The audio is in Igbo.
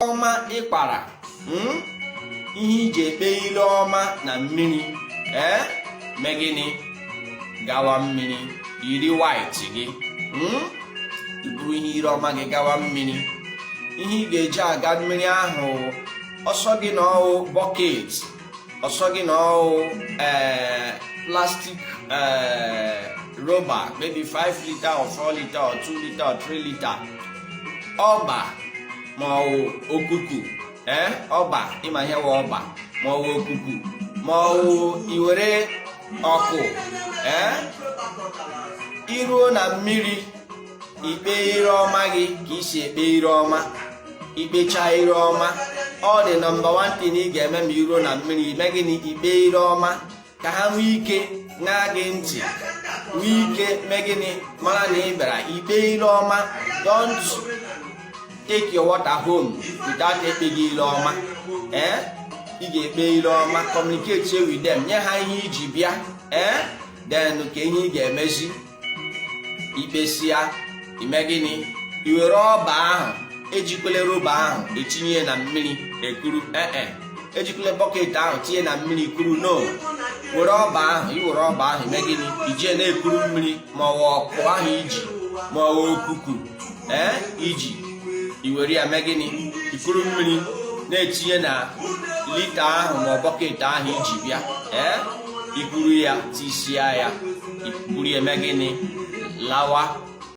ọma ịkpara hmm? ihe i ji ekpe ire ọma na mmiri ee eh? mee gịnị gawa mmiri yiri white gị hmm? i buru ihe ire ọma gị gawa mmiri ihe ị ga-eji aga mmiri ahụ ọ sọ gị na ọ wụ bọket ọ sọ gị na ọ wụ eh, plastic eh, roba maybe 5 lita or 4 lita or 2 lita or 3 lita ọba ma ọ wụ okuku eh, ọba ị ma ihe wụ ọba ma ọ wụ okuku ma ọ wụ i were ọkụ i ruo na mmiri i kpee ire ọma gị ka i si ekpe ire ọma i kpecha ire ọma ọ dị number one thing ị ga-eme ma i ruo na mmiri i mee gịnị i kpee ire ọma ka ha nwee ike ṅaa gị ntị nwee ike mee gịnị mara na ị bịara ikpe ire ọma don't take your water home without ekpeghị ire ọma ee eh? ị ga-ekpe ire ọma communicate with them nye ha ihe i ji bịa ee eh? then ka ihe ị ga-emezi i kpesịa i mee gịnị i were ọba ahụ ejikwele roba ahụ etinye na mmiri ekuru ee eh, eh. ejikwele bọket ahụ tinye na mmiri kuru no were ọba ahụ i were ọba ahụ i mee gịnị i ji ya na-ekuru mmiri ma ọ wụ ọkụ ahụ i ji ma ọ wụ okuku ee i ji i were ya mee gịnị i kuru mmiri na-etinye na lita ahụ ma ọ bọket ahụ i ji bịa ee i kuru ya tisia ya i kuru ya mee gịnị lawa